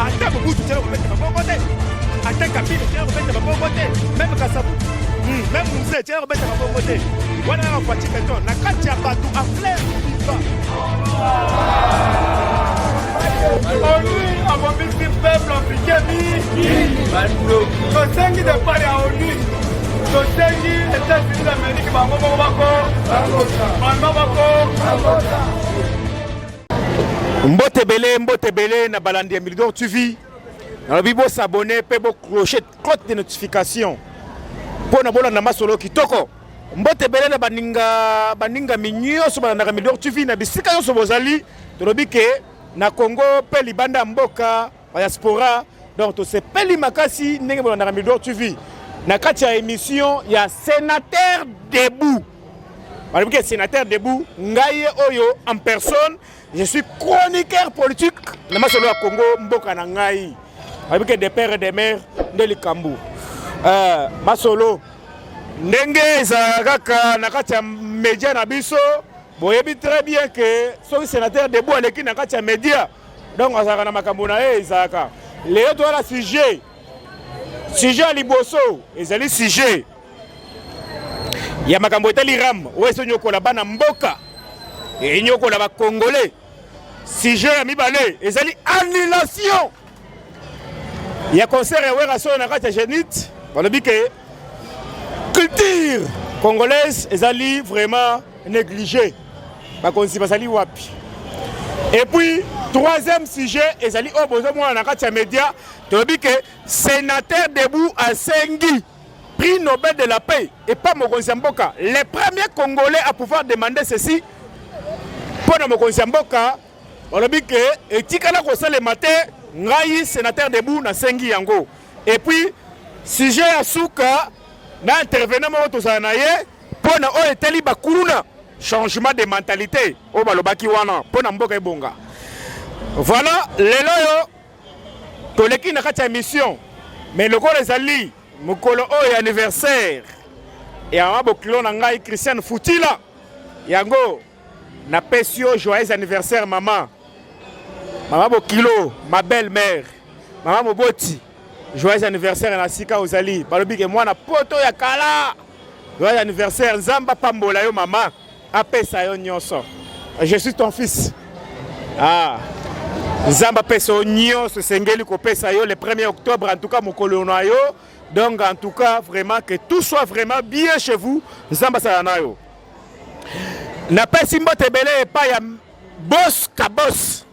ata mobutu tela kobeta maboko te ata kabila tela kobeta maboko te meme kasabu hmm, meme muse tela kobeta maboko te wana kaka faci beton na kati ya bato a flair viva onu abomisi peuple africain mingi tosengi depart ya onu tosengi etats-unis d'amérique bango moko bako bango bako Mbote belé, mbote belé na balandi ya Milidor TV. Nalobi bo s'abonner pe bo clocher cloche de notification. Mpo na bolanda masolo kitoko. Mbote belé na baninga baninga minyoso balandaka Milidor TV na bisika nyonso bozali. Tolobi ke na Congo pe libanda mboka Diaspora donc tosepeli makasi ndenge bolandaka Midor TV na kati ya emission ya Senateur debout balobi ke Senateur debout ngai ye oyo en personne je suis chroniqueur politique na masolo ya Congo mboka na ngai balobi ke de père et de mère nde likambo euh, masolo ndenge ezalaka kaka na kati ya media na biso boyebi très bien ke soki Senateur debout aleki na kati ya media donc azalaka na makambo na ye ezalaka lelo toyala sujet sujet ya liboso ezali sujet ya makambo etali ram oyo esi onyokola bana mboka enyokola bacongolais sujet ya mibale ezali annulation ya concert ya werrason na kati ya genite balobi ke Culture congolaise ezali vraiment négligée. Bakonzi bazali wapi? Et puis troisième sujet ezali oyo bozo mwana na kati ya media toyebi ke sénateur debout asengi prix Nobel de la paix et pas mokonzi ya mboka. Le premier congolais à pouvoir demander ceci mpo na mokonzi ya mboka balobi ke etikala kosalema te ngai sénateur debout nasengi yango Et puis sujet ya suka na intervenant moko tozala na ye mpo na oyo etali bakuluna changement de mentalité oyo balobaki wana mpo na mboka ebonga voilà lelo oyo toleki na kati ya mission mais lokola ezali mokolo oyo ya anniversaire ya mabokilo na ngai christiane futila yango Na pesi yo joyeux anniversaire maman. Maman Bokilo, ma belle mère. Maman Moboti, joyeux anniversaire na sika ozali. Balobi ke mwana poto ya kala. Joyeux anniversaire Nzamba pambola yo maman. Apesa yo nyonso. Je suis ton fils. Ah. Nzamba pesa yo nyonso esengeli kopesa yo le 1er octobre en tout cas mokolo na yo. Donc en tout cas vraiment que tout soit vraiment bien chez vous. Nzamba sala na yo. napesi mbote ebele epai ya bos kabos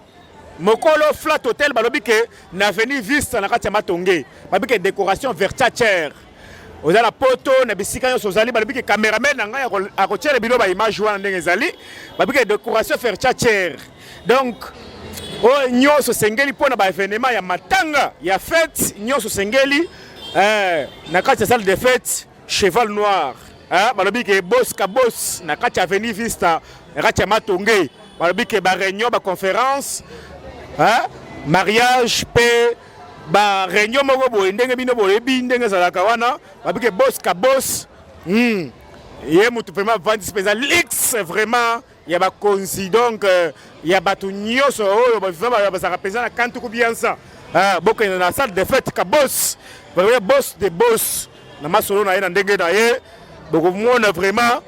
mokolo flat hotel balobi ke na avenue vista na kati ya matonge balobi ke décoration vertachere oza na poto na bisika nyonso ozali balobi ke cameraman na ngai akotyela bino baimage wana ndenge ezali balobi ke décoration vertachere donc oyo nyonso esengeli mpo na baevenema ya matanga ya fete nyonso esengeli eh, na kati ya salle de fete cheval noir hein? balobi ke bos kabos na kati avenue vista na kati ya matonge balobi ke bareunion baconférence hein? mariage mpe bareunion moko boye ndenge bino boyebi ndenge ezalaka wana babi ke bos kabos hmm. ye motu mpenza avandisi mpenza lix vraiment ya bakonzi donc euh, ya bato nyonso oyo bazalaka mpenza na kantu kubiansa ah, bokende na salle de fete ka bos vraiment bos de bos na masolo na ye na ndenge na ye bokomona vraiment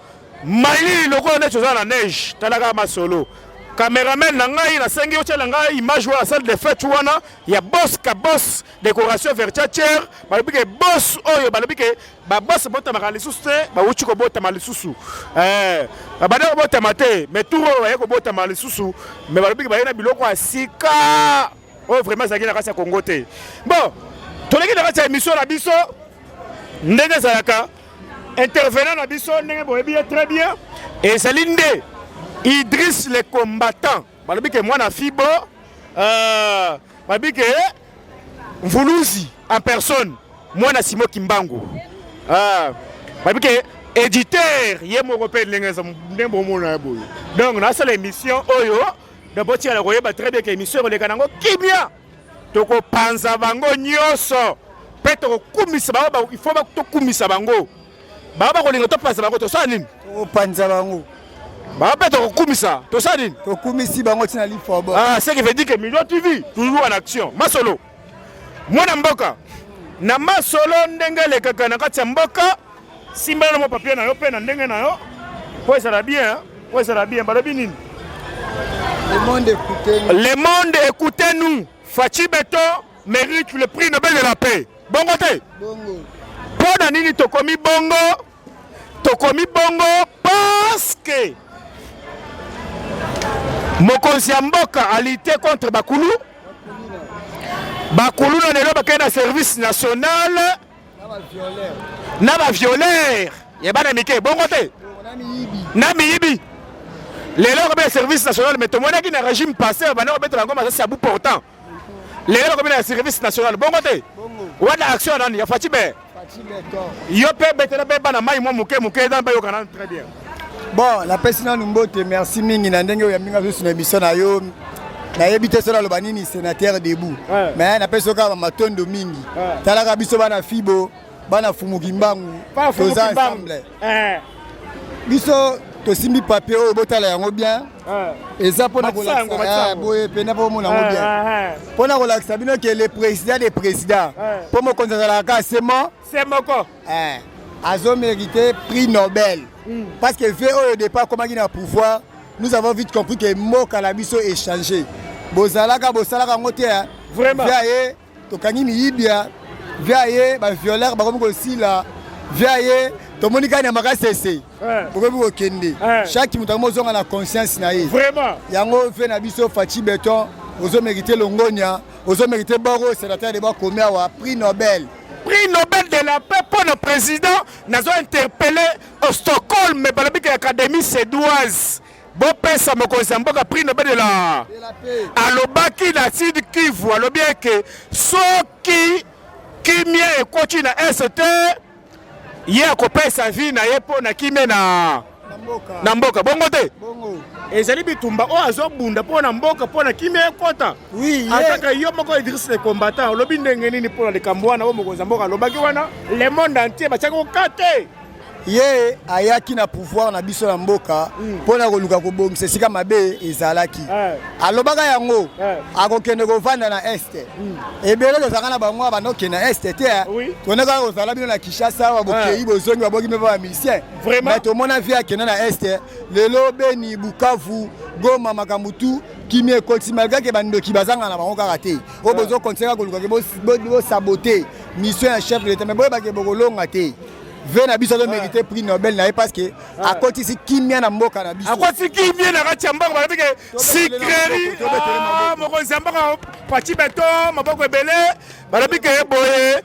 mai lokola neti oza na neige talaka masolo cameraman na ngai nasengi otyela ngai image wana salle de fete wana ya bos ka bos décoration vertiature balobi ke bos oyo balobi ke babosi botamaka lisusu te bawuti kobotama lisusu eh, babandi kobotama te me tour oyo baye kobotama lisusu me balobiki baye na biloko ya sika oyo vraiment ezalaki na kati ya kongo te bon toleki na kati ya émission na biso ndenge ezalaka intervenant na biso ndenge boyebi ye très bien ezali nde idris le combattant balobi ke mwana fibo euh, balobi ke mvuluzi en personne mwana simo kimbangu euh, balobi ke éditeur ye moko mpe ndenge eza nde bomona ya boye donc nasala émission oyo donc botikala koyeba très bien ke émission ekoleka nango kimia tokopanza bango nyonso mpe tokokumisa bango il faut tokumisa bango bango bakolinga topanza bango tosala nini tokopanza bango bango mpe tokokumisa tosala nini tokumisi bango ntina lifobo ah, ce qui veut dire que million tv toujours en action masolo mwana mboka na masolo ndenge elekaka na kati ya mboka simbela na mwa papier na yo mpe na ndenge na yo mpo ezala bien mpo ezala bien balobi nini le monde écoute nous faci beton mérite le prix Nobel de la paix. Bongo te? Bongo. Pona nini tokomi bongo? Tokomi bongo parce que mokonzi ya mboka alite contre bakulu bakuluna lelo bakei na service national na baviolere ya bana mike bongo te na miyibi lelo okobeta service national me tomonaki na régime passé banda kobetela yango masasi ya bu portant lelo nakomi na service national bongo te wana action nani ya faci be yo mpe betela mpe bana mai mwa moke moke eza bayokana nanu très bien bon napesi nanu mbote merci mingi na ndenge oyo yambinga susu na emission na yo nayebi te soki naloba nini sénateur debout mais napesi yo kaka matondo mingi talaka biso bana fibo bana fumu kimbangu toza ensemble eh. biso tosimbi papier oyo botala yango bien eh. eza mpona kolakisa eh, boye mpena mpo bomona yango bien mpona kolakisa bino ke le président de président mpo mokonzi azalaka kaka se mo se moko azo mérité prix nobel hmm. parce que vie oyo départ akomaki na pouvoir nous avons vite compris ke mboka na biso échange bozalaka bosalaka yango te vraiment ye tokangi miyibia via ye ba violeur bakomi kosila via ye tomoni kani ya makasi ese eh. bokomi kokende eh. chaque moto yango ozonga na conscience na ye yango ve na biso faci beton ozo merite longonia ozo merite boro sénateur de bakomi awa prix nobel prix nobel de la paix mpo na président nazo interpelle au stockholm balobiki académie sédoise bopesa mokonzi ya mboka prix nobel de la alobaki na sud kivu alobi eke soki kimia ekoti na est te ye akopesa vi na ye mpo na kimia na na mboka bongo te ezali bitumba oyo azobunda mpo na mboka mpo na kimia ekota ataka yo moko idris le combattant olobi ndenge nini mpo na likambo wana oyo mokonzi ya mboka alobaki wana le monde entier batiaki oka te ye ayaki na pouvoir na biso na mboka hmm. mpo na koluka kobongisa esika mabe ezalaki eh. alobaka yango eh. akokende kovanda na este hmm. ebele tozalaka na bango abanda kokende na este te eh. tondekaka kozala bino na kinshasa babokei bozongi baboki mpe bamisien me tomona vie akende na este lelo beni bukavu goma makambo tu kimia ekoti malgre ke bandoki bazanga na bango kaka te oyo bozokontinue kaka koluka ke bosabote mission ya chef de l'etat me boyebake bokolonga te Ve na biso azo merite prix Nobel na ye parce que akotisi kimia na mboka na biso. Akotisi kimia na kati ya mbango balobi ke sikeri ah, mokonzi ya mboka pati beton maboko ebele balobi ke boye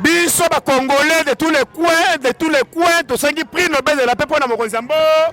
biso ba congolais de tous les coins de tous les coins tosengi prix Nobel de la paix mpo na mokonzi ya mboka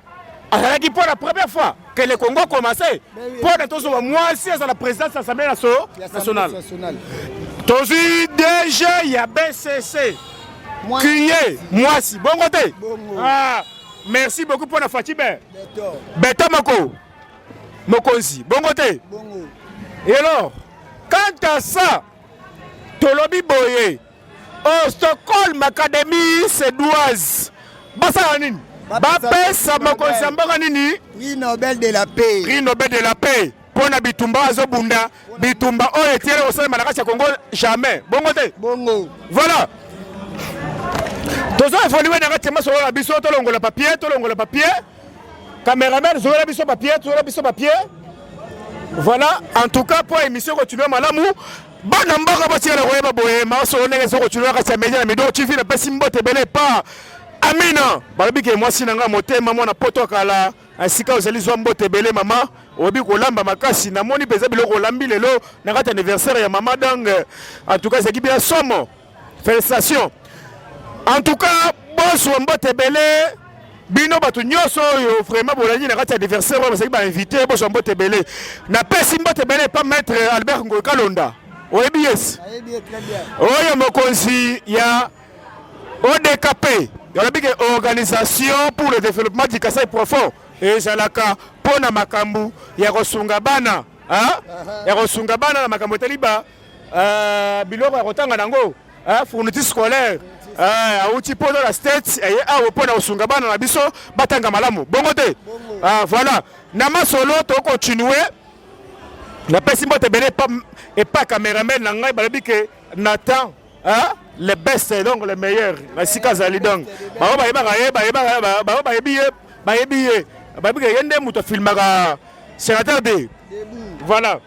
azalaki mpo na première fois que le congo commence mpo na tozwa mwasi azala présidence ya assemblée nationale tozwi dg ya bcc kiye mwasi bongo te ah, merci beaucoup mpo na fatibe beto moko mokonzi bongo te elor quant à ça tolobi boye Oh, Stockholm Academy suédoise basala nini? Bapesa mokonzi ya mboka nini? Prix Nobel de la paix. Prix Nobel de la paix mpo na bitumba azobunda bitumba oyo etiele kosalema na kati ya Congo jamais bongo te bongo voilà tozo evolue na kati ya masolo na biso tolongola papier tolongola papier cameraman zola biso papier zola biso papier voilà en tout cas mpo émission continue malamu bana mboka batikala koyeba boye masolo ndenge eza kotunaka kati ya media na mido tv napesi mbote ebele epa amina balobi ke mwasi na ngai motema mwana poto ya kala esika ozali zwa mbote ebele mama oyebi kolamba makasi namoni mpenza biloko olambi lelo na kati ya anniversaire ya mama dange antuka ezalaki bia somo Felicitations. En tout cas, boss wa mbote ebele bino bato nyonso oyo vraiment bolandi na kati ya adversaire oyo bazali bainvité boso mbote ebele napesi mbote ebele epa maître albert ngoy kalonda oyebi yes oyo mokonzi ya odkp olobi ke organisation pour le développement du kasai profond ezalaka mpo na makambo ya kosunga bana ya kosunga bana na makambo etali ba Euh, biloko ya kotanga nango euh, fourniture scolaire euh, auti mpo na state eye eh, awa mpo na kosunga bana na biso batanga malamu bongo te ah, voilà na masolo tokotinue napesi mbote ebele epa cameraman na ngai balobi ke na temps le best donc le meilleur na esika azali donc bango bayebaka ye bango bayebi ye bayebi ye bayebi ke ye nde moto afilmaka sénateur de voilà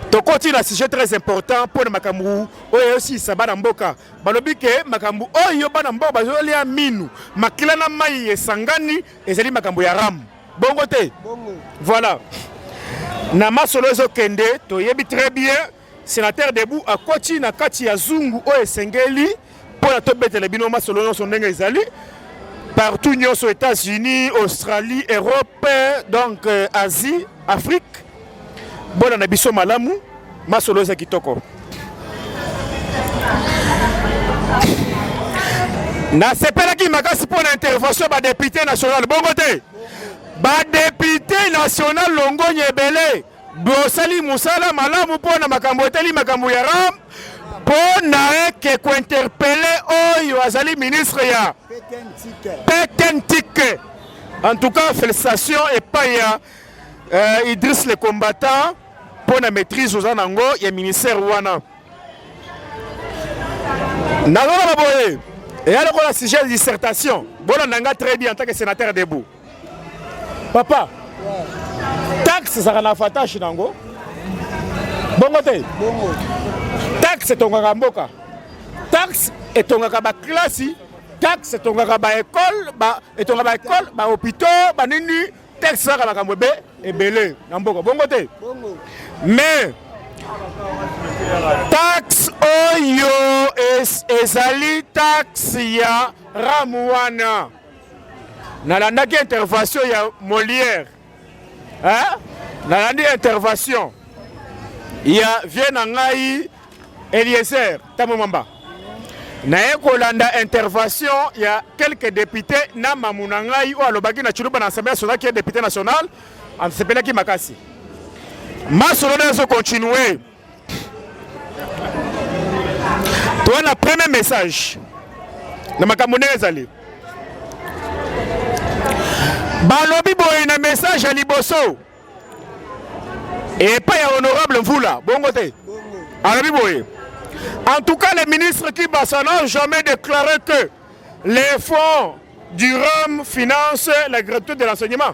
tokoti na sujet très important mpo na makambo oyo eyosilisa bana mboka balobi ke makambo oyo bana mboka bazolia minu makila na mai esangani ezali makambo ya ramu bongo te voilà na masolo ezokende toyebi très bien sénateur debout akoti na kati ya zungu oyo esengeli mpo na tobetela bino masolo nyonso ndenge ezali partout nyonso états-unis australie europe donc euh, asie afrique bona na biso malamu masolo eza kitoko nasepelaki makasi mpo na intervention ya badepute national bongo te badepute national longonya ebele Bosali musala malamu mpo na makambo etali makambo ya ram mpo na eke kointerpele oyo azali ministre ya petentike en tout cas félicitation epai ya euh, idris le combattant mpo na maîtrise oza nango ya ministère wana nazoloba boye eya lokola sujet ya dissertation bolanda nga très bien en tant que sénateur debout papa taxe ezalaka na avantage na yango bongo te taxe etongaka mboka taxe etongaka baklasi taxe etongaka baekole etonga baekole bahôpitaux banini taxe ezalaka makambo ebe ebele na mboka bongo te mais taxe oyo ezali taxe ya ramu wana nalandaki intervention ya Molière hein? nalandi intervention ya vie na ngai Eliezer Tambo Mamba naye kolanda intervention ya quelques députés na mamu na ngai oyo alobaki na Tshiluba na Assemblée nationale qui est député national asepelaki makasi masolo nde ezo continue toa na premier message na makambo ndenge ezali balobi boye na message ya liboso epai ya honorable mvula bongo te alobi boye en tout cas le ministre kibasa n'a jamais déclaré que les fonds du rhum financent la gratuité de l'enseignement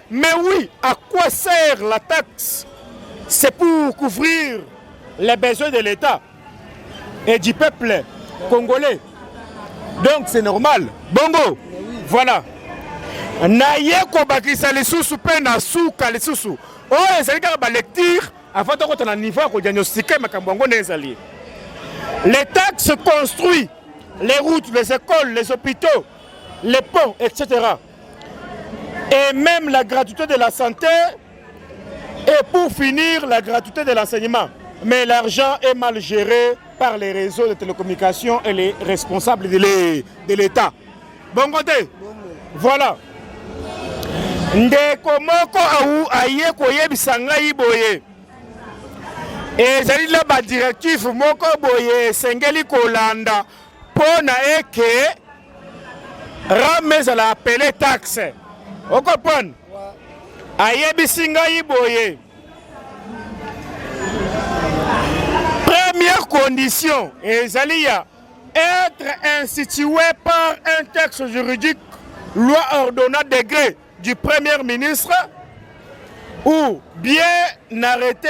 Mais oui, à quoi sert la taxe C'est pour couvrir les besoins de l'État et du peuple congolais. Donc c'est normal. Bongo, voilà. naye kobakisa lisusu mpe na suka lisusu oyo ezali kaka balecture avant tokota na niveau ya kodiagnostike makambo yango nde ezali les taxes construit les routes les écoles les hôpitaux les ponts etc et même la gratuité de la santé et pour finir la gratuité de l'enseignement. Mais l'argent est mal géré par les réseaux de télécommunications et les responsables de l'État. Bon côté, voilà. ndeko moko au aye koyebisa ngai boye ezali na badirective moko boye esengeli kolanda mpo na eke rame ezala apele taxe okoprendre ayebisi ngai boye première condition ezali ya être institué par un texte juridique loi ordonnant degré du premier ministre ou bien arrêté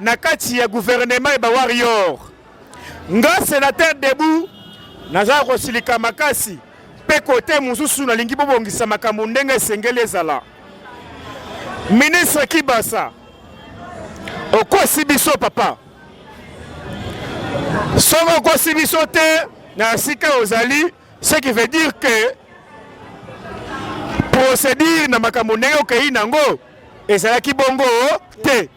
na kati ya gouvernement ya ba warrior nga senateur debout nazala kosilika makasi mpe kote mosusu nalingi bobongisa makambo ndenge esengeli ezala ministre kibasa okosi biso papa soki okosi biso te na esika ozali ce qui veut dire que procédure na makambo ndenge okei nango ezalaki bongo te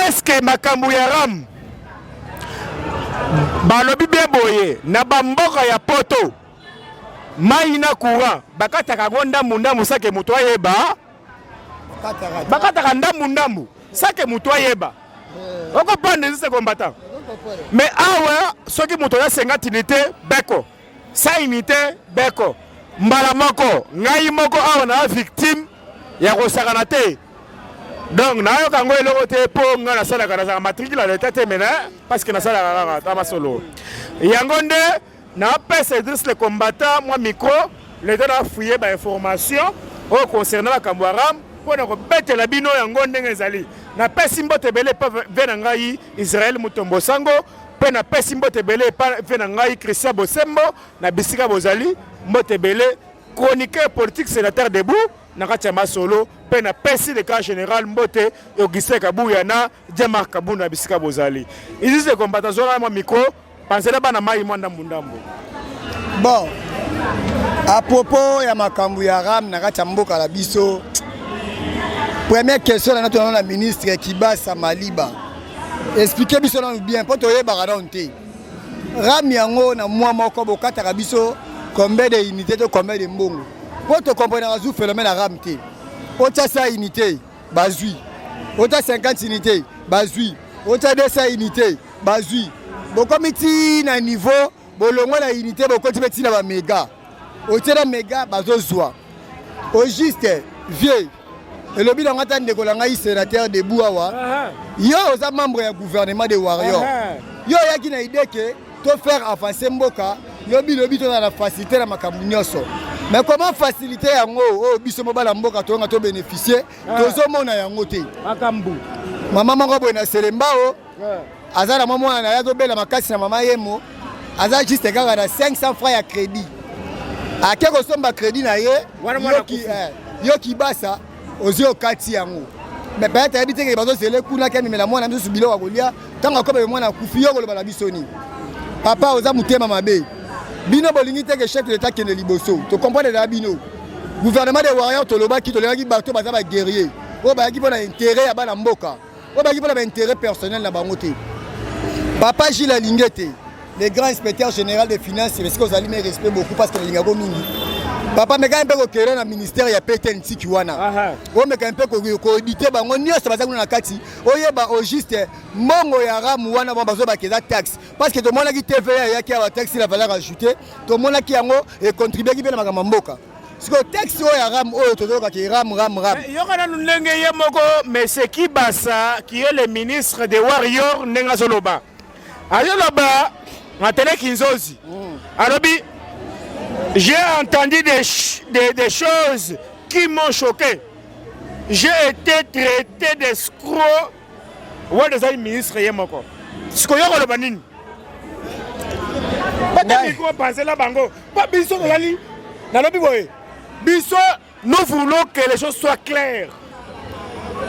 eske makambo ya ram balobi bie boye na bamboka ya poto mai na courant bakataka yango ndambu ndambu sake moto ayeba bakataka ndambu ndambu sake moto ayeba eh. okopanda ezise kombata me awa soki moto oya senga tini te beko Sa imite Beko mbala moko ngai moko awa na victime ya kosakana te donc nayoka yango eloko te mpo ngai nasalaka nazalaka matricule ya leta te mena parce que nasalaka kaka ata masolo yango nde napesa idris le combattant mwa micro leta nafuye bainformation oyo concernant makambo ya ram mpo na kobetela bino yango ndenge ezali napesi mbote ebele mpe ve na ngai israel mutombo sango Mpe napesi mbote ebele epai mpe na ngai Christian Bosembo na bisika bozali mbote ebele chroniqueur politique sénateur debout na kati ya masolo mpe napesi le camp général mbote Augustin Kabuya na Jean-Marc Kabunda na bisika bozali isis de combat azwaka mwa micro panzela bana mai mwa ndambu ndambu bon a propos ya makambo ya ram na kati ya mboka na biso première question na natonana na ministre Kibasa Maliba Expliquer biso nanu bien mpo toyebaka nanu te. Rame yango na mwa moko bokataka biso combien de unité to combien de mbongo mpo tokomprenaka zu phénomène ya rame te. Otya 100 unité bazwi, otya 50 unité bazwi, otya 200 unité bazwi. Bokomi ti na niveau bolongwa na unité bokoti mpe ti na bamega, otie na mega bazozwa au juste vieux elobi na ngai ata ndeko na ngai sénateur debout awa yo oza membre ya gouvernement de warrior yo oyaki na idée ke to faire avancer mboka lobi lobi tozala na facilité na makambo nyonso mais comment facilité yango oyo oh, biso mobala mboka toyonga tobénéficie tozomona yango te makambo mama moko boye na selembao aza na mwa mwana na ye azobela makasi na mama yemo aza juste kaka na 500 francs ya crédit ake kosomba crédit na ye yo kibasa eh, ozwi okati yango mais peut-être ayebi te ke bazozele kuna ke amemela mwana misusu biloko ya kolia ntango akobebe mwana akufi yo koloba na biso nini papa oza motema mabe bino bolingi te ke chef de l'état kende liboso tocomprendre na bino gouvernement de warrior tolobaki tolingaki bato baza baguerrier oyo bayaki mpo na intere ya bana mboka oyo baki mpona baintérêt personnel na bango te papa gile alinge te le grand inspecteur général de finance esika ozali me respect beaucoup parce que nalingako mingi papa mekani mpe kokela na ministère ya pete ntiki wana omekani mpe koedite bango nyonso baza kuna na kati oyeba au juste mbongo ya ramu wana bango bazobaka eza taxe parce que tomonaki tva eyaki awa taxe la valeur ajoute tomonaki yango econtribuaki mpe na makambo ya mboka siko texte oyo ya ram oyo tozoyoka ki ram ram ram eh, yoka nanu ndenge ye moko monsieur kibasa qui est le ministre de warrior ndenge azoloba azoloba atele kinzozi mm. alobi j'ai entendu des, des, des choses qui m'ont choqué j'ai été traité d'escroc Wade ezali ministre ye moko sikoyo koloba nini batamiko bapanzela bango mpo biso tozali nalobi boye biso nous voulons que les choses soient claires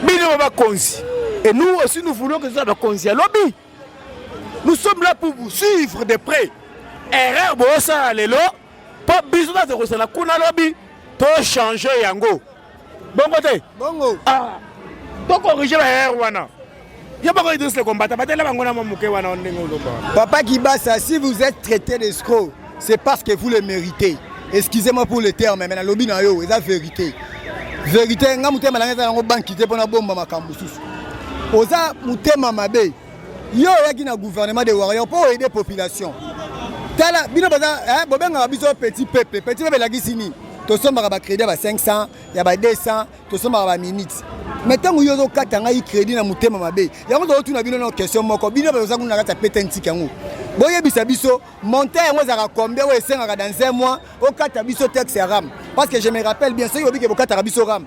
bino bakonzi et nous aussi nous voulons que toza bakonzi ya lobi nous sommes là pour vous suivre de près erreur bosala lelo mpo biso nazekosala kuna lobi tochange yango bongo te bongo ah to corriger ba erreur wana yo bako idris le combattant batela bango na mwa moke wana ndenge olomba papa kibasa si vous êtes traité d'escroc c'est parce que vous le méritez excusez-moi pour le terme mais nalobi na yo eza vérité vérité nga motema nanga eza nango banki te mpo nabomba makambo mosusu oza motema mabe yo oyaki na gouvernement de warrior mpo oaide population tala bino boza eh, bobengaka biso petit peuple petit peuple elakisi nini tosombaka bacrédit ya ba 500 ya ba 200 tosombaka baminute mai ntango yo ozokata ngai crédit na motema mabe yango tozotuna bino na question moko bino baoza kuna na kati ya pete ntiki yango boyebisa biso monte yango ezalaka combien oyo esengaka dans un mois okata biso texte ya rame parce que je me rappelle bien soki obike bokataka biso rame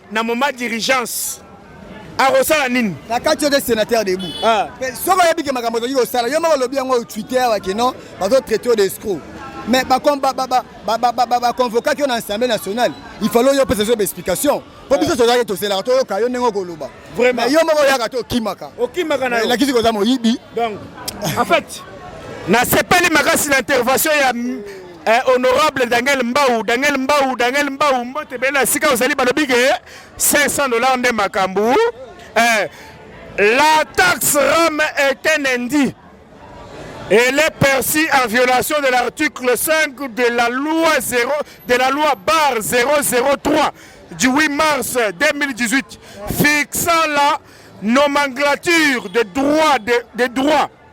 na moment d'urgence akosala nini na kati ote sénateur debout ah. soki oyebi ke makambo otoki kosala yo moko olobi yango twitter wake non bazotraite yo de escro mais baconvokaki yo na assemblée nationale il fallait yo mpesa zoba explication mpo biso tozalaki toselaka toyoka yo ndenge okoloba mais yo moko oyaka te okimaka okimaka na elakisi koza moyibi donc en fait nasepeli makasi na intervention ya Eh, honorable Daniel Mbau, Daniel Mbau, Daniel Mbau, mbote bela sika ozali balobi ke 500 dollars nde makambu. Eh, la taxe rame est un indice. Elle est perçue en violation de l'article 5 de la loi 0 de la loi bar 003 du 8 mars 2018 fixant la nomenclature des droits des de droits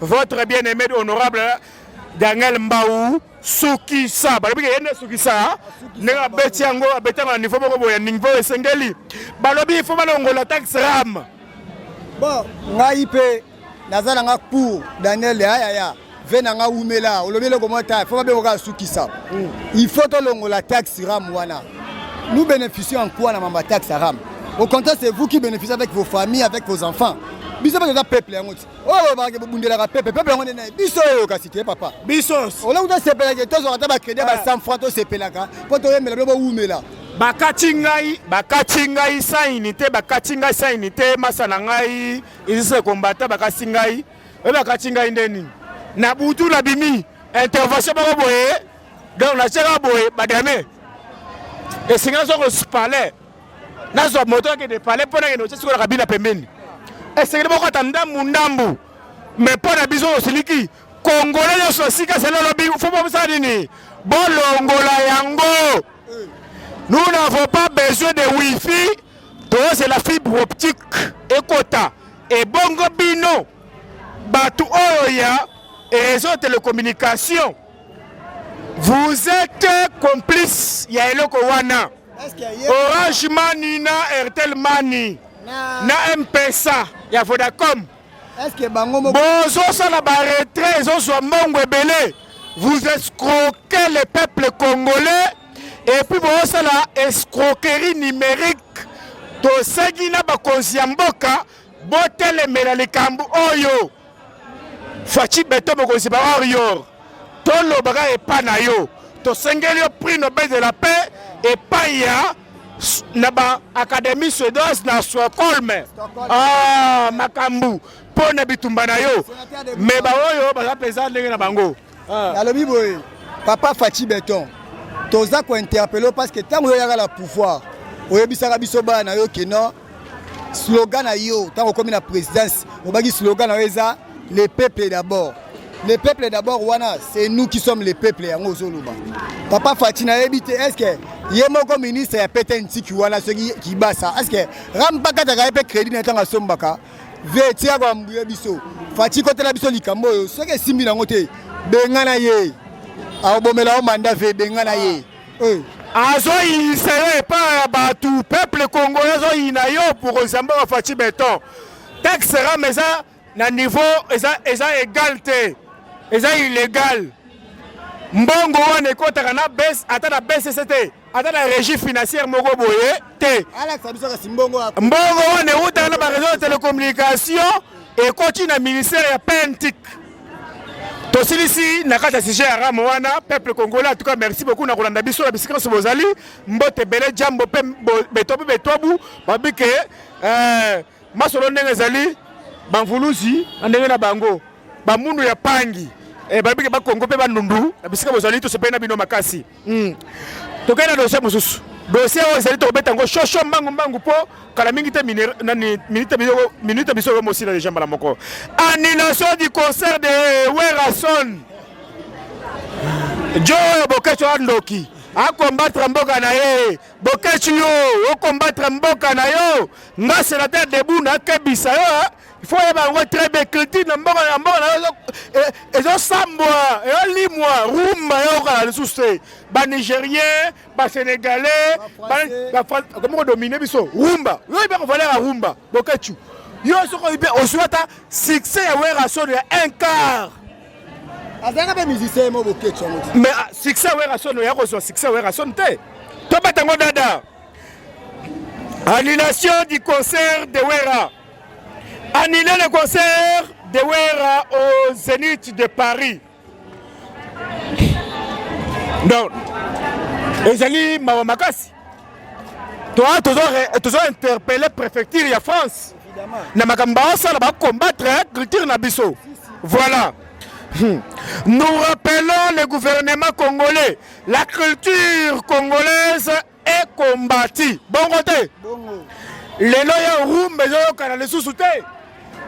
votre bien aimé honorable daniel mbau sukisa balobi ke ye nde sukisa ndenge abeti yango abetango na niveau moko boya niveau esengeli balobi ifo balongola tax ram bon ngai mpe naza na nga pour daniel yayaya ve na nga wumela olobi eloko mwa ta ifo babengo kaka sukisa mm. ifo tolongola tax ram wana nous bénéficions en quoi na mamba tax ram au contraire c'est vous qui bénéficiez avec vos familles avec vos enfants biso mpe toza peuple yango ti oyo balobaka ke bobundelaka pepe pepe yango nde naye biso oyo kasi te papa biso olongo tosepelaka tozwaka ata bakredi ya ba 100 franc tosepelaka mpo toyembela bino bowumela bakati ngai bakati ngai sans unité bakati ngai sans unité masa na ngai izise kombata bakati ngai oyo bakati ngai nde nini na butu na bimi intervention moko boye donc natiaka boye badame esengi nazo kospale nazwa moto akende pale mpo nakende otye sikoyo na kabina pembeni esengeli moko ata ndambu ndambu me mpo na biso osiliki kongole nyonso ya sika selo olobi fo bomosala nini bolongola yango nous n'avons pas besoin de wifi tozela fibre optique ekota ebongo bino bato oyo ya réseau telecommunication Vous êtes complice ya eloko wana. Orange Mani na Airtel Mani na M-Pesa ya Vodacom. bozosala baretrait ezozwa mbongo ebele vous escroquez le peuple congolais epuis bozosala escroquerie numérique tosengi na bakonzi ya mboka botelemela likambo oyo faci beto mokonzi ba warrior tolobaka epai na yo tosengeli yo prix nobel de la paix epai ya na baacadémie suédoise na stockholm ah, makambo mpo na bitumba na yo me baoyo baza mpenza ndenge na bango Ah. Nalobi boye papa Fatshi Beton toza ko interpeller parce que tango yoyaka la pouvoir oyebisaka biso bana na yo ke non slogan na yo tango okomi na présidence obaki slogan na yo eza le peuple d'abord le peuple d'abord wana c'est nous qui sommes le peuple yango ozoloba papa Fatshi nayebi te est-ce que ye moko ministre ya pete ntiki wana soki kibasa est-ce que rampakataka ye mpe crédit na ntango asombaka vie tia kwa mbuya biso fati kotela biso likambo oyo soki esimbi nango te bengana ye akobomela yo manda ve bengana ye eh. azoyinisa yo epai ya bato peuple congolais azoyina yo pour nzambe wa fati beton taxe rame eza na niveau eza, eza egal te eza illégal mbongo wana ekotaka na base ata na bcc te aza na régie financière moko boye te mbongo wana ewutaka na bareseau ya télécommunication ekoti na ministère ya pentic tosilisi na kati ya sujet ya rame wana peuple congolais en tout cas merci beaucoup na kolanda biso na bisika nyonso bozali mbote ebele jambo mpe beto mpe betwabu babi ke euh, masolo ndenge ezali bamvuluzi na ndenge na bango bamundu ya pangi eh, babi ke bakongo mpe bandundu na bisika bozali tosepeli na bino makasi Hmm. Tokende na dossier mosusu. Dossier oyo ezali tokobeta yango shosho mbangu mbangu mpo kala mingi te minute biso oyo mosila deja mbala moko. Annulation du concert de Werrason. Joe Boketsho andoki. akombatre mboka na ye bokeci yo okombatre mboka na yo nga senateur debu nakebisa yo il faut oyeba yango très bien culture na mboka na mboka na ezosambwa ezolimwa rumba eyokala lisusu te banigérien basénégalais bakomi kodomine biso rumba yo oyebi kovalera rumba bokechu yo soki oyebi ozwi ata succès ya werason ya un quart azalaka mpe musicien mo bokechu yango mais ah, succès ya werason oya kozwa succès ya werason te tobeta yango dada annulation du concert de wera Annuler le concert de Werra au Zénith de Paris. Donc, ezali mawa makasi toa tozo interpelle préfecture ya france na makambo baosala bacombattre agriculture na biso voilà hmm. nous rappelons le gouvernement congolais la culture congolaise ekombati bongo te lelo ya rumba ezoyokana lisusu te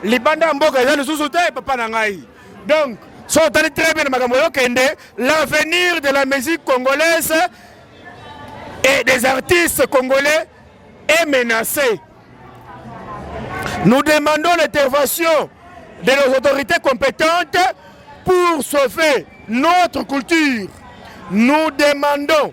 libanda ya mboka eza lisusu te papa na ngai donc so otali très bien makambo oyokende l'avenir de la musique congolaise et des artistes congolais est menacé nous demandons l'intervention de nos autorités compétentes pour sauver notre culture nous demandons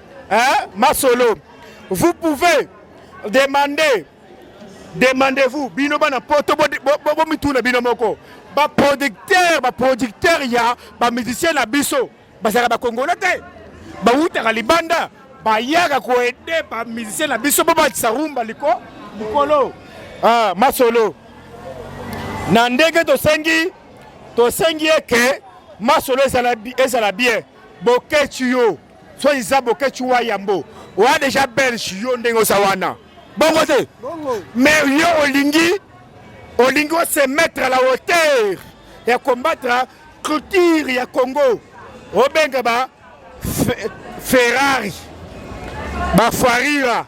Hein, Masolo, vous pouvez demander, demandez-vous, bino bana poto, bomituna bino moko, ba producteur, ba producteur ya ba musicien na biso, bazalaka ba congolais te, bawutaka libanda, bayaka koede ba musicien na biso mpo bakisa rumba liko likolo. Ah, Masolo, na ndenge tosengi tosengi eke masolo ezala bien bokeci yo Soit disant Boketshu wa Yambo. Oa déjà belge yo ndenge oza wana. Bongo te. Mais yo olingi olingi o se mettre à la hauteur ya combattre culture ya Congo. Obenga ba Ferrari. Ba Farira.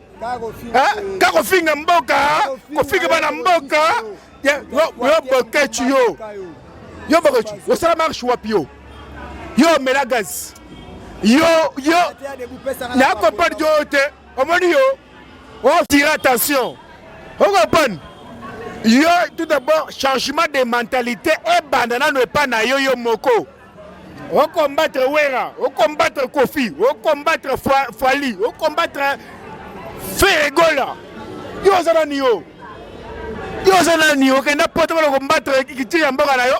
ka kofinga mboka kofinga bana mboka yo bokeci yo yo bokeci osala marche wapi yo yo omela gaz yo yo nakompani yo te omoni yo otire oh, attention okompani yo tout d'abord changement de mentalité ebanda nano epai na yo yo moko au combattre Wera, au combattre Kofi, au combattre Fali, au combattre Ferregola. Yo oza nani yo? Yo oza nani? Okenda poto bana combattre kitiri ya mboka na yo.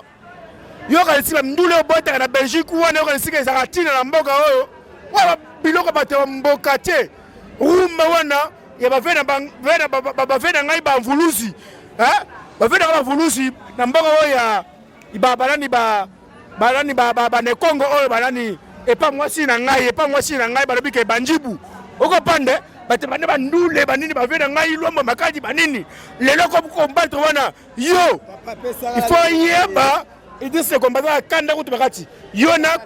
Yo kanisi ba ndule obotaka na Belgique wana yo kanisi ke ezaka tina na mboka oyo. Wa biloko bato ya mboka te. Rumba wana ya bave na bave na ngai ba mvuluzi. Hein? Bave na ba mvuluzi na mboka oyo ya ba balani ba balani ba ba bane Congo oyo balani epa mwasi na ngai epa mwasi na ngai balobi ke banjibu okopande bato bane bandule banini bave na ngai lwambo makadi banini lelo kombatre wana yo ifo yeba idise kombataka kanda kutu bakati yo na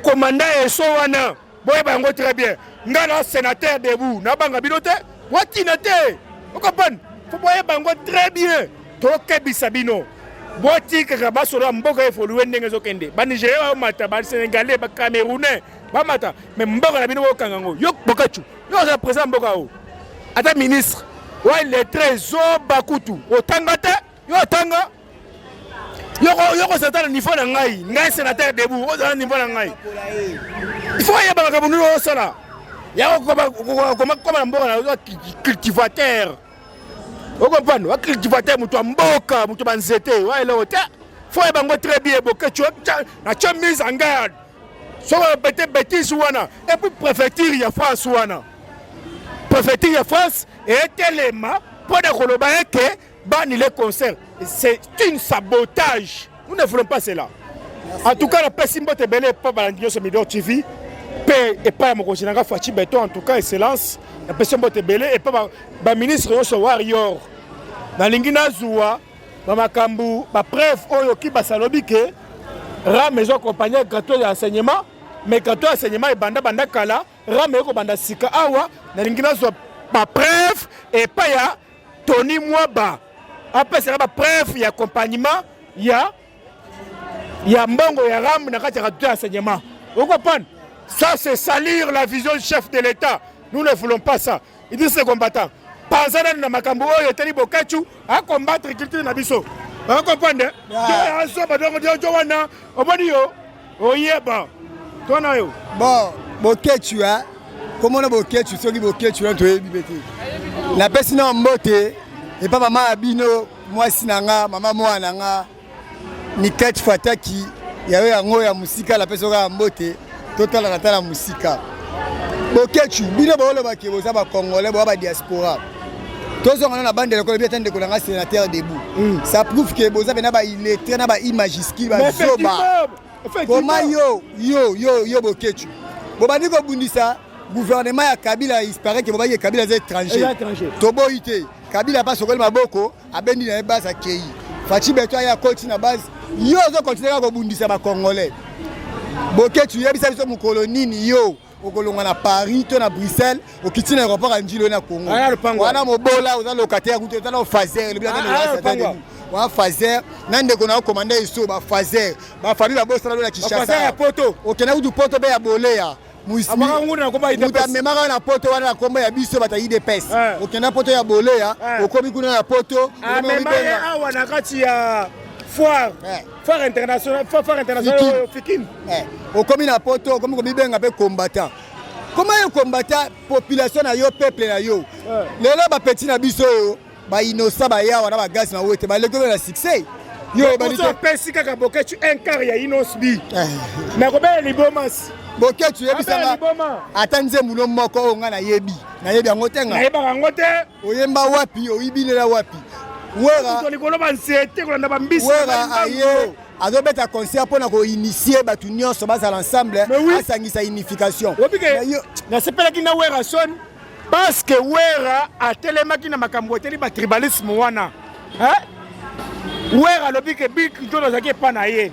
komanda eso wana boyeba yango très bien nga na sénateur debout nabanga bino te watina te okompane fo boyeba yango très bien tokebisa bino botikaka basola mboka evolue ndenge ezokende banigérien bamata basénégalais bacamerounais bamata me mboka na bino bokanga yango yo bokacu yo ozala président ya mboka yango ata ministre wa lettre zoba kutu otanga te Yo atanga yoko satana nivo na ngai ngai senateur debout ozala nivo na ngai ifo ayeba makambo nini osala yakokoma na mboka na cultivateur okomprendre wa cultivateur moto ya mboka moto ya banzete wa eloko te fo ayeba yango très bien boketio na tio mise en garde soko bete betise wana epuis préfecture ya france wana préfecture ya france etelema mpo na koloba eke Bani les concerts, c'est une sabotage. Nous ne voulons pas cela. En tout cas, la pesi mbote belle pas balandio sur Midor TV. Pe et pas mon conseiller nga Fatshi Beton en tout cas excellence. La pesi mbote belle et pas ba ministre yo so warrior. Na lingi na zuwa ba makambu ba preuve oyo ki basalobi ke ra maison compagnie gratuit ya enseignement mais gratuit ya enseignement ebanda banda kala ra me ko banda sika awa na lingi na zuwa ba preuve et pas ya Tony Mwaba apesaka ba preuve ya accompagnement ya ya mbongo ya ram na kati ya radio ya enseignement okopan ça c'est salir la vision du chef de l'état nous ne voulons pas ça il dit ce combattant panza nanu na makambo oyo etali bokachu acombattre culture na biso okopan de azoba donc diojo wana omoni yo oyeba to na yo bon bokechu hein komona bokechu soki bokechu wana toyebi mpe te napesi na mbote epa mama ya bino mwasi na nga mama mwana na nga mikati fataki yayo yango ya mosika napesi oka ya mbote totalaka ata na mosika bokechu bino boolobaki boza bakongole boa badiaspora tozonga na bande lokola biata ndeko na ngai sénateur debout mm. ça prouve que boza pena ba illettré na ba i majuscule bazoba koma yo yo yo yo boketchu bobandi kobundisa gouvernement ya kabila isparaît ke bobaki kabila aza étranger toboyi te kabila apa sokoli maboko abendi na ye base akei faci beto aya koti na base yo ozokontinue kaka kobundisa bacongolais boketchu yebisa biso mokolo nini yo okolonga na paris to na bruxelles okiti na aéroport ya njilo na congo wana mobola oza locataire kutu eza na fazer elobi wa fazer na ndeko na okomanda eso bafazer bafami babosana lo na kinshasa okenda kutu poto be ya boleya moto amemaka na poto wana na nkombo ya biso bato ya idps eh. okenda poto ya boleya eh. okomi kuna na poto amema ye awa na kati ya foire eh. Phare international, phare international oyo Fikin. Eh, okomi na poto, okomi komibenga pe combattant. Comment yo combattant population na yo peuple na yo. Eh. Lelo ba petit na biso yo, ba innocent ba yawa na ba gas na wete, ba leko na succès. Yo ebali te. Pesi kaka boketu un quart ya Innos bi. Eh. Na kobela libomas. Boketu yebisa nga. Ata nzembo no moko oyo nga na yebi. Na yebi yango te nga. Na yebaka yango te. oyemba wapi oyibi lela wapi weralikolo banzete kolanda bambisi wera aye azobeta concert mpo na koinitie bato nyonso bazala ensemble asangisa unification nasepelaki na wera son parceke wera atelemaki na makambo eteli batribalisme wana wera alobi ke bill clinton azalaki epa na ye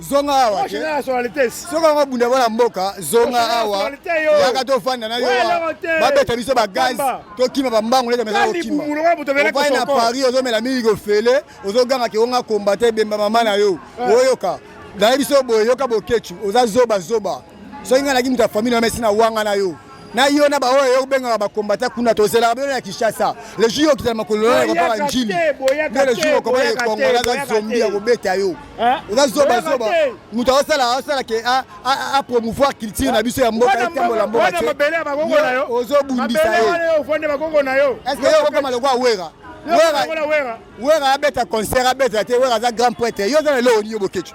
zonga awa te soki yango bunda bana mboka zonga awa yaka tofanda na yo babeta biso bagaz tokima bambangu leta meza kokima ovai na paris ozomela mingi kofele ozoganga keonga kombate ebemba mama na yo eh. oyoka nayebi so boye yoka bokecu oza zoba zoba soki ngai naki moto ya famille na mesi na wanga na yo na yo na baoyo yo obengaka bakombata kuna tozelaka bino na kinshasa le jour yo okitana makolo na ekopaka njili nde le jour okoma ekongola aza zombi ya kobeta yo oza zobazoba moto aosala aosala ke apromouvoir culture na biso ya mboka etambola mboka te ozobundisa ye eske yo okokoma lokola wera wera abeta concert abeta te wera aza grand prêtre yo oza na eloko nini yo boketshu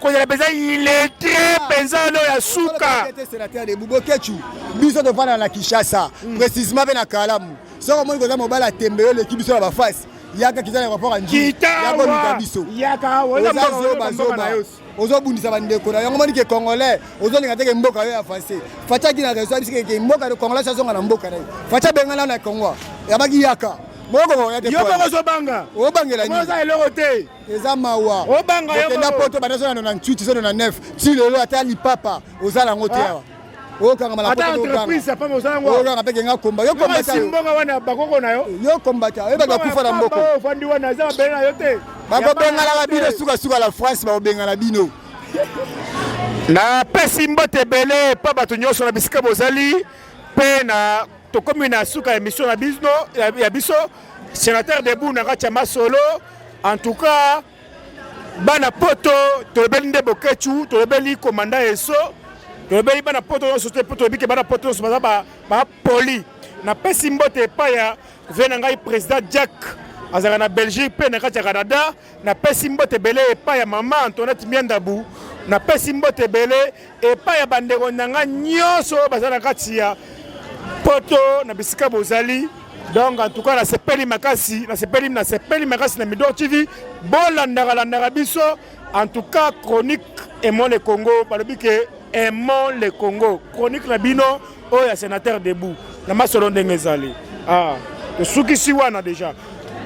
kozala mpenza iletre mpenza no ya suka bubokechu biso tofanda na kinshasa hmm. précisement mpe na kalamu soki omoni koza mobali atembe yo eleki biso na bafasi yaka kiza na rapport anjiyakomika biso ozazobazoba ozobundisa bandeko na yango omoni ke congolais ozolinga teke mboka yo ya français fatia kina reso abisi keke mboka congolais azonga na mboka na ye fatia bengana na congo yabaki yaka mokokoya te yo moko ozobanga obangela nini oza eloko te eza mawa okenda poto banda zona na 98 zona na 9 ti lelo ata lipapa oza nango te ah. awa okangamaokanga mpe kenga komba yo kombataombonga wana bakoko na yo yo kombata oyebaka kufa na mboko ofandi wana eza mabele na yo te bakobenganaka bino sukasuka la france bakobengana bino napesi mbote ebele mpo bato nyonso na bisika bozali mpe na tokomi na suka ya emission na biso ya biso senateur debout na kati ya masolo En tout cas, bana poto tolobeli nde bokechu tolobeli komanda eso tolobeli bana poto nyonso te mpo toyebi ke bana poto nyonso baza bapoli napesi mbote epai ya vie na ngai président jack azalaka na belgique mpe na kati ya canada napesi mbote ebele epai ya mama antoinette miandabu napesi mbote ebele Epai ya bandeko na ngai nyonso oyo baza na kati ya poto na bisika bozali donc en tout cas nasepeli makasi nasepeli nasepeli makasi na midor tv bolandaka landaka biso en tout cas chronique aimons le congo balobi ke aimons le congo chronique na bino oyo ya sénateur debout na masolo ndenge ezali ah, tosukisi wana déjà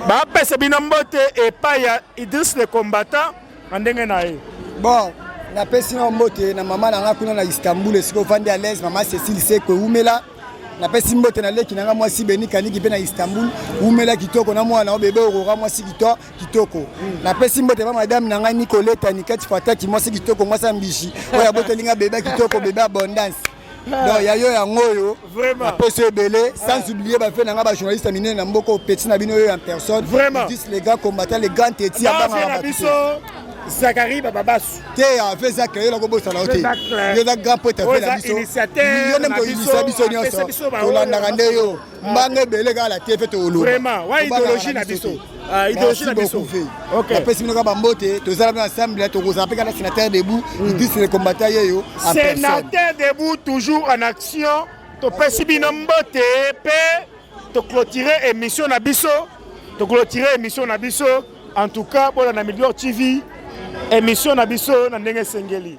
bapesa bino mbote epai ya idris le combattant na ndenge na ye bon napesi na mbote na mama na nga kuna na istanbul esika ofandi à l'aise mama cecile seko ewumela napesi mbote na leki na nga mwasi beni kaniki mpe na istanbul wumela kitoko na mwana o bebe orora mwasi kito kitoko hmm. napesi mbote ba madame na ngai nicoleta nikati fataki mwasi kitoko mwasi ya mbishi oyo aboteli nga bebe kitoko bebe abondance donc ya yo yango oyo napesi ebele sans ah. oublier bafe na ngai bajournaliste ya minene na mboka opeti na bino oyo en personne dis les gars combattant les grands teti ya bangaka zakari bababasu te ave eza keyela kobosana yo te yo eza grand poete afe na biso yo nde moto oyinisa biso nyonso tolandaka nde yo mbanga ebele kaka na te mpe tolobapesi bino kaka bambote tozala bino ensemble tokozala mpe kaka sénateur debout idis le combattant yeyo sénateur debout toujours en action topesi bino mbote mpe toclotire émission na biso toclotire émission na biso en tout cas bolanda million tv émission na biso na ndenge esengeli